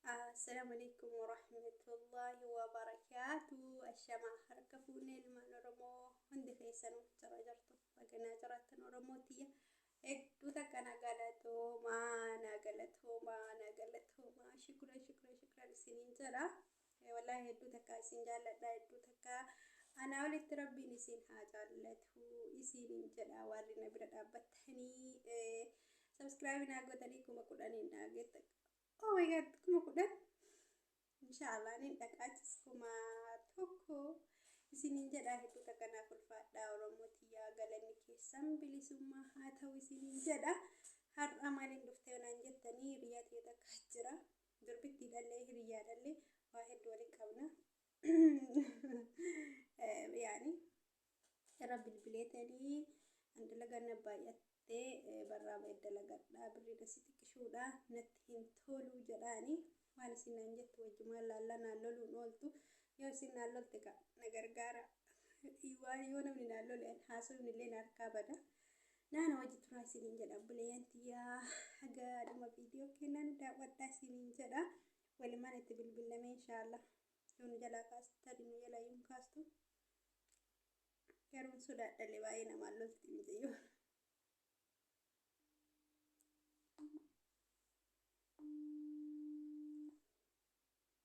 Assalamu alaikum warahmatullahi wabarakatuh. Ashama harka fuunee ilmaan Oromoo hundi keessan jara jartu baganaa jaraattan Oromoo tiyya. Hedduu takka na galatoomaa na galatoomaa na galatoomaa shukran shukran shukran isiniin jedha. Ee wallahi hedduu takkaa isin jaalladha hedduu takkaa anaa olitti rabbiin isin haa jaallatu isiinin jedha waarri na bira dhaabbattanii subscribe naa gootanii kuma kudhaniin naa geetta oh my god kuma kudhan inshaallah nin dhaqaachis kuma tokko isinin jedha hedduu takka naaf ulfaadha oromoo tiyyaa galanni keessan bilisummaa haa ta'u isinin jedha har'a maaliin dhuftee naan jettanii biyya ta'e takka jira durbittiidhallee hiriyyaadhallee waa heddu walitti qabna yaani irra bilbileetanii an dalagaan na baay'attee barraa ba'e dalagadhaa birrii nasi xiqqishuudha natti hin toluu jedhaani waan isin naan jettu wajjumaan laallaa naan loluun ooltu yoo isin naan lolte ka na gargaara waan yoo namni naan lole haasofni illee na harkaa bada Naana wajji turaa isiniin jedha obboleeyyan tiyyaa haga dhuma viidiyoo kennaa nu daawwadhaa isiniin jedha walimaan itti bilbillamee inshaallah yoo nu jalaa kaastu tarii nu jalaa yuun kaastu garuun sodaadhalee baay'ee namaan lolti mucayyoo.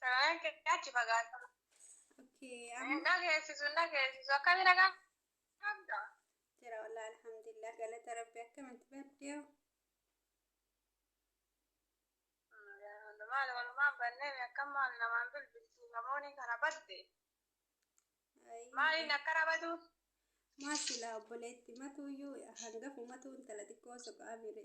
Saraan kee achi fagaata. Okay, amma Na geessisu na geessisu akkami nagaa qabda. jira walaa alhamdulillah galata rabbi akkamitti baddee Maal walumaan bannee akkam maal namaan bilbiltu namoonni kana badde. Maaliin akkana badu? maa silaa obboleetti matuuyyuu hangafu matuu intala xiqqoo soqaa mire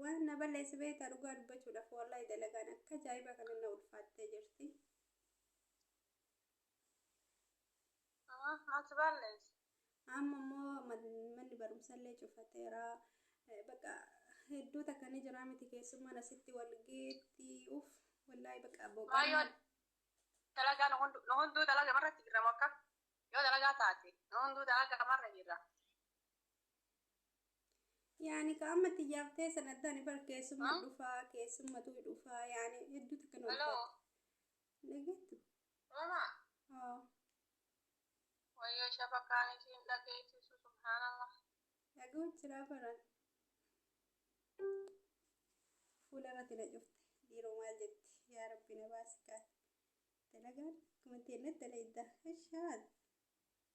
Waan na balleessi beektaa dhugaa dubbachuudhaaf wallahi dalagaan akka ajaa'ibaa kana na ulfaattee jirti. Mati ballees. Amma immoo man- manni barumsallee cufateera. Eh, Bakka hedduu takka ni jira miti keessummaan asitti wal geetti. Uff, wallahi bakka Maayoo boqonnaa. dalagaa nu hundu- nu hunduu dalaga marratti jirra mokka. Yoo dalagaa taate nu hunduu dalaga marra jirra. Yaani ka amma tiyyaaf teessan adda ani bar keessumma Ah. dhufaa keessummatu dhufaa yaani hedduu takka nu Hello. ulfaata. Dhageettu? Mama, Haa wayyoo shabakaan isiin dhageessisu subhaanallah. dhaga'u jiraa baran. Fuula irratti na cufte dhiiroo maal jetti yaa rabbi na baasi kaati. Dalagaan akkuma teennatti dalayda. Ashaad.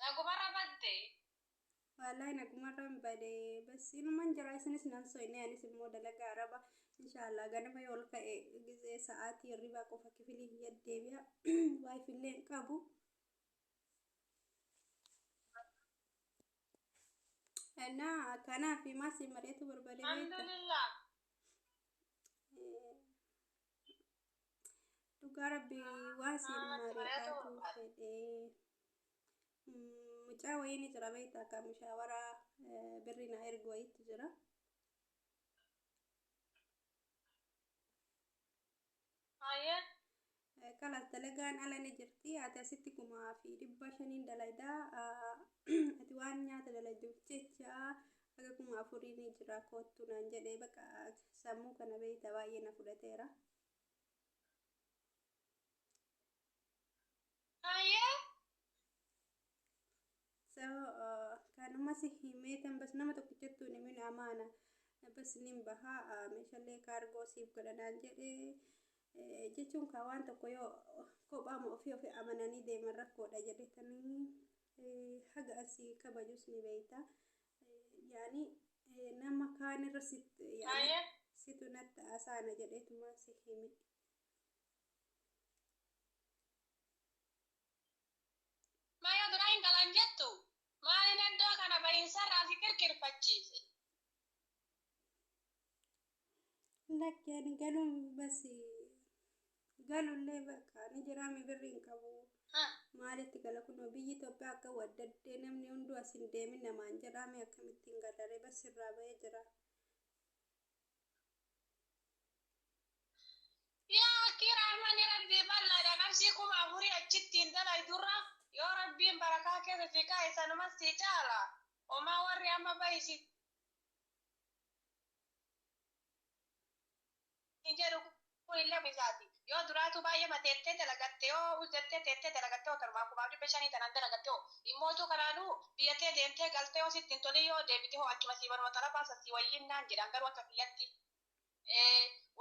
Nagumarra badde. Wallahi nagumarran bade bas inuman jira isinis nan soyne anis immoo dalaga araba inshallah ganama yoo ol ka'e gizee sa'aatii hirribaa qofa kifilii kiyya deebi'a wifi illee hin qabu እና kanaaf maasii mari'atu barbade beekta Alhamdulillah. Eh, Dhugaa rabbii waan siin mari'atuu fedhee. Mm, Mucaa wayii ni jira beekta akka mushaawara eh, birri naa ergu wayiitu jira. Haye. Eh, Kalas dalagaan ala ni jirti. Ati asitti kumaa fi dhibba shaniin dalaydaa. ah, Ati waan nyaata dalayduuf jecha Haga kuma afurii ni jira koottu naan jedhe baqa sammuu kana beeyta baay'ee na fudhateera. Hayyee. So kanuma si himeetan bas nama tokkichattu hin himin amaana bas nin baha meeshalee kaargoo siif godha naan jedhe jechuun kaa waan tokko yoo kophaama ofii ofii amananii deeman rakkoodha jedhetanii haga an si kabajus ni beeyta yaani nama kaan irra sit yaani Haye. situ natti haasaana jedheetuma si hime Mayo biraa hin dhalan jettu. Maalin iddoo kana bahinsarraa si kirkirfachiise? Lakkeen galuun basi galullee bakka ni jiraame birri hin qabu. Maalitti gala kunoo biyyi Itoophiyaa akka waddaddee namni hunduu as hin deemin namaan jedhaame akkamitti hin galaree bas irraa ba'ee jira. Yaa akkii rahmani rabbii bal'aadha qarshii kuma afurii achittiin dalaydurra yoo rabbiin barakaa keessa si kaa'e sanumas si caala homaa warri amma bahi si hin jedhu kun illee ofii isaati yoo duraatuu baay'eema teettee dalagatte yoo us jettee teettee dalagatte hoo tanumaan kumaa fi dhibba shanii tanaan dalagatte hoo immootuu kanaanuu biyya tee deemtee galtee yoo sitti hin tolin yoo deebite hoo achuma sii manuma xarafaa san sii wayyiin naan jedhaan garuu akka kiyyatti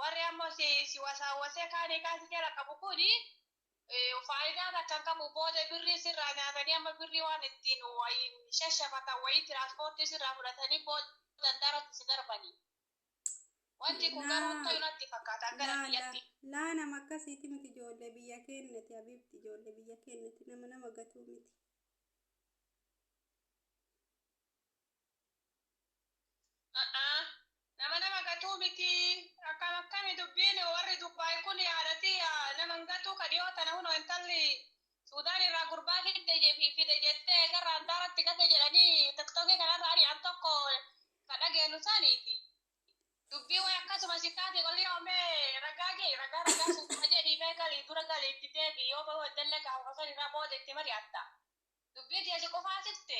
warri ammoo si wasaawwasee kaanii kaa si jala qabu kun faayidaa takka hin qabu booda birrii sirraa nyaatanii amma birrii waan ittiin wayiin shashafatan wayii tiraanspoortii sirraa fudhatanii booda handaratti si darbanii wanti kun garuu Laa- tayu natti fakkaata akka laa laa rakkiyatti laa nama akkasiiti miti ijoollee biyya keennati habiibti ijoollee biyya keennati nama nama gatuu miti A'aa. Nama nama gatuu miti. Akkam akkami dubbiin warri Dubai kun yaada tiyya nama hin gatuu ka dhiyoo tana huno intalli Sudan irraa gurbaa fidde je- fi- fide jettee eegarra handaaratti gate jedhanii tiktoki kanarra ari'an tokko ka dhageennu saniiti. Dubbii way akkasuma si taate qolliyoo mee ragaa je ragaa ragaa suutuma jedhii mee galii dura galii itti deebi yoo bahuu eddalle gaafuma san irraa booda itti mari'atta. Dubbii tiyya si qufaasifte.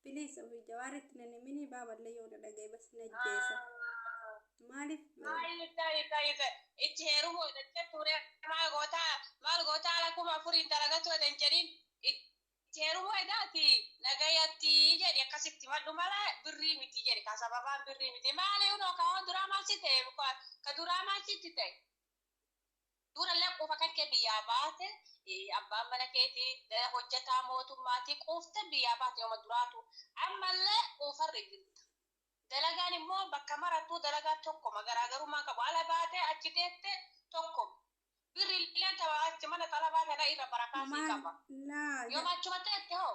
Please ofi jawaaritti nan himini baaballee yoo na dhagaye bas na jeesa. Maalif yoo Ayi tayi tayi tayi itti heerumu edan jettu ree maal goota maal goota ala kuma afuriin dalagatu edan jedhin itti heerumu edaati nagayatti jedhi akkasitti himadhu mala birrii miti jedhi kaa sababaan birrii miti maali unoo kaa duraa maal si ta'e ka duraa maal sitti ta'e. Durallee quufa kankee biyyaa baate abbaan mana keetii hojjataa mootummaatii quuftee biyyaa baate yooma duraatuu ammallee quufarri jirta dalagaan immoo bakka marattuu dalagaa tokkoma garaagarummaan qabu ala baatee achi teette tokkoma birrillee tama achi mana xalabaa kana irra barakaa sii qaba yooma achuma teette hoo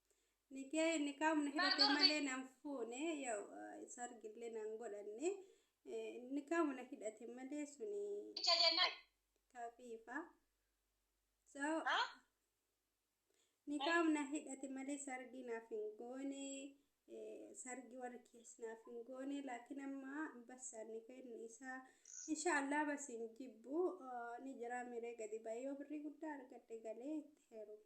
Nikee nikaa humna hidhate Barnoota- malee nan fuune yaw sargillee nan godhanne eh, nikaa humna hidhate malee suni Icha jennaan. kafiifa. So Ha? nikaa humna hidhate malee sargii naaf hin goone eh, sargii warri kees naaf hin goone laakiin amma bassaan nikaa inni isaa inshaallah bas hin jibbu eh, ni jira miree gadi ba'ee yoo birrii guddaa argadhe galee itti heerumu.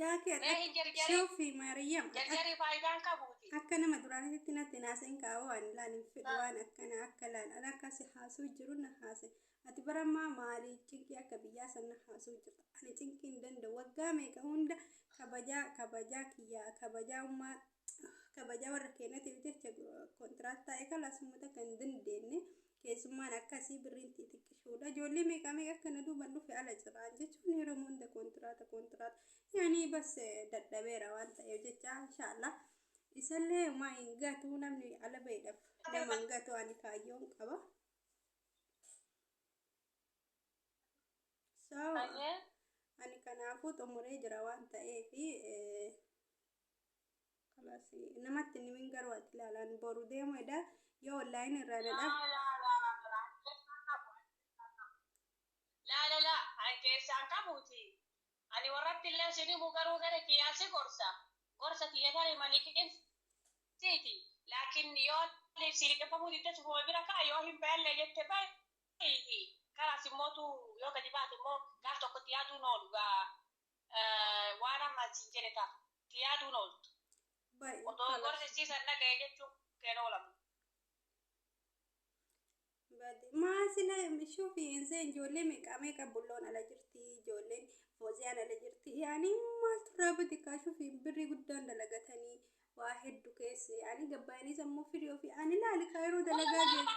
Yaa kee Mee hin jarjarin. Sofi Maariyaam akka- Jarjarri faayidaan qabuuti. akka nama duraanitti natti naaseen kaa'oo ani laal hin fedhu Ah. waan akkana akka laal an akka si haasuu jiru na haase ati bara ammaa maali cinqii akka biyyaa san na haasuu jirta ani cinqii hin danda'u waggaa meeqa hunda kabajaa kabajaa kiyyaa kabajaa ummaa kabajaa warra keenyatiif jecha kontiraat taa'e kana sumuu takka hin dandeenye keessummaan akkasii birriin xixiqqishuudha ijoollee meeqaa meeqa akka na duuban dhufe ala jiraan jechuun yeroo hunda kontiraata kontiraata yaanii bas dadhabeera waan ta'eef jecha inshaallah isallee homaa hin gatu namni ala ba'eedhaaf nama hin gatu ani kaayyoon qaba. So, ani kanaafuu xumuree jira waan ta'eef. Kalas namatti hin himin garuu ati ilaalaan boru deemu eda yoo online irraa na dhab Laalala an keessaan qabuuti. Ani warratti illee sin himu garuu gara kiyyaan si gorsa. Gorsa kiyya tarii maliqin siiti. Laakin yoo ani si liqimfamuu didde cufuma bira kaa'i yoo hin bahellee jette ba'iiti. Karaas immootu yoo gadi baate immoo gaaf tokko itti yaaduun oolu gaa. waan amma achiin jedhe ta'a. Itti yaaduun ooltu. Odoo gorsichiisan dhaga'e jechuun keen oolamu. Maa sila shufi insee ijoollee meeqaa meeqaa bulloon ala jirti ijoolleen fooziyaan ala jirti yaani maaltu irraa bade kaa shufi birrii guddaan dalagatanii waa heddu keessa yaani gabbaanii sammuu firii ofii ani laali kaa yeroo dalagaa jeetu.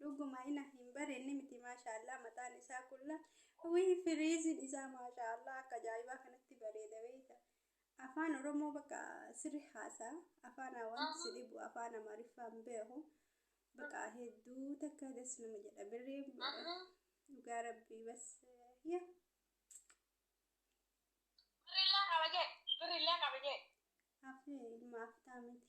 Dhuguma ina hin barenne miti mashallah mataan isaa kulla wii firiizin isaa mashallah akka ajaa'ibaa kanatti bareeda beeyta afaan oromoo baqa sirri haasa afaanaa wanti si dhibu afaan amaariffaa hin beeku baqa hedduu takka das nama jedha birrii dhugaa rabbii bas yaa Birrillee qaba jee. Birrillee qaba jee. afee ilma aftaa miti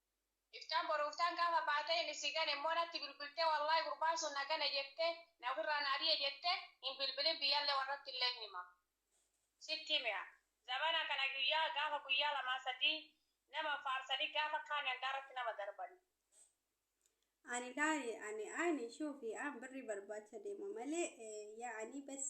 Iftaan boru iftaan gaafa baatee inni si gane immoo natti bilbiltee wallaahi gurbaan sun na gane jettee na ofirraa na ari'e jettee hin bilbilin biyyallee warrattillee hin hima. Sitti himea zabana kana guyyaa gaafa guyyaa lamaa sadii nama faarsanii gaafa kaani hangaarratti nama darbani. Ani laali ani aini shuufi an birri barbaacha deema malee yaani bes.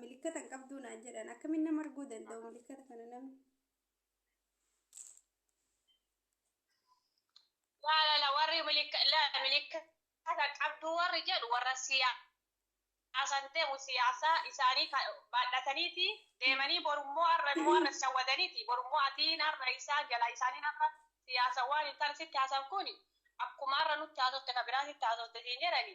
milikkata hin qabduu naan jedhan akkamiin nama arguu danda'u milikkata kana namni Laalala warri milikkata qabduu warri jedhu warra siyaasan deemu siyaasa isaanii baadhataniiti deemanii borummoo har'a immoo har'a isa wadaniiti borummoo atiin har'a isaan jala isaaniin har'a siyaasa waan hin taane sitti haasan kun akkuma har'a nutti haasofte ka biraa sitti haasofte siin jedhani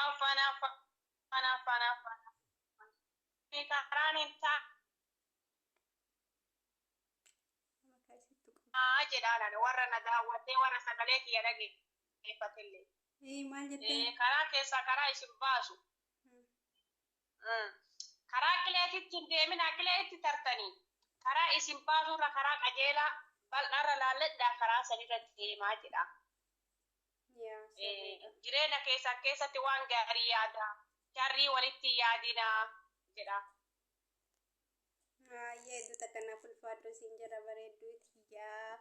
Affan affan affan affan affan Kuni karaan hin taa Maqaa isii tuqan. aa jedhaan ani warra na daawwatee warra sagalee kiyya dhageeffatellee. Ee maal jettee? Ee, karaa keessaa karaa isin baasu. Hmm. Mm. Karaa qileetitti hin deeminaa, qilee itti tartanii. Karaa isin baasurra karaa qajeelaa bal'aarra laalladhaa karaa sanirra deemaa jedha. Yaa Eh, sirriidha. jireenya keessan keessatti waan gaarii yaada sharrii walitti hin yaadinaa jedha Baay'ee hedduu takkanaaf ulfaadhu siin jedha bareedduu tiyyaa.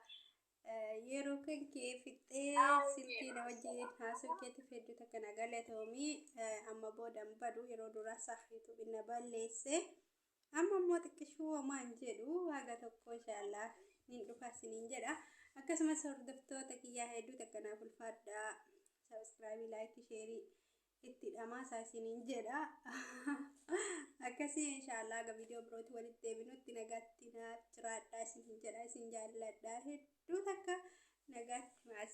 Eh, Yeroo kan kee fixxee Baay'ee silkii na wajjin haasoo keetiif hedduu takka na galatoomii. Eh, Amma booda hin badu yeroo duraa saah yuutuubiin na balleesse. Amma immoo xiqqishuu homaa hin jedhu haga tokko inshaallah nin dhufa siniin jedha. Akkasumas hordoftoota kiyyaa hedduu takka naaf ulfaadhaa. Sabiskiraabii, laayikii, sheerii itti dhamaasaa isiniin jedha. Akkasii inshaallah haga viidiyoo birootti walitti deebinutti nagaatti naaf jiraadhaa isiniin jedha isin jaalladha hedduu takka nagaatti maasa.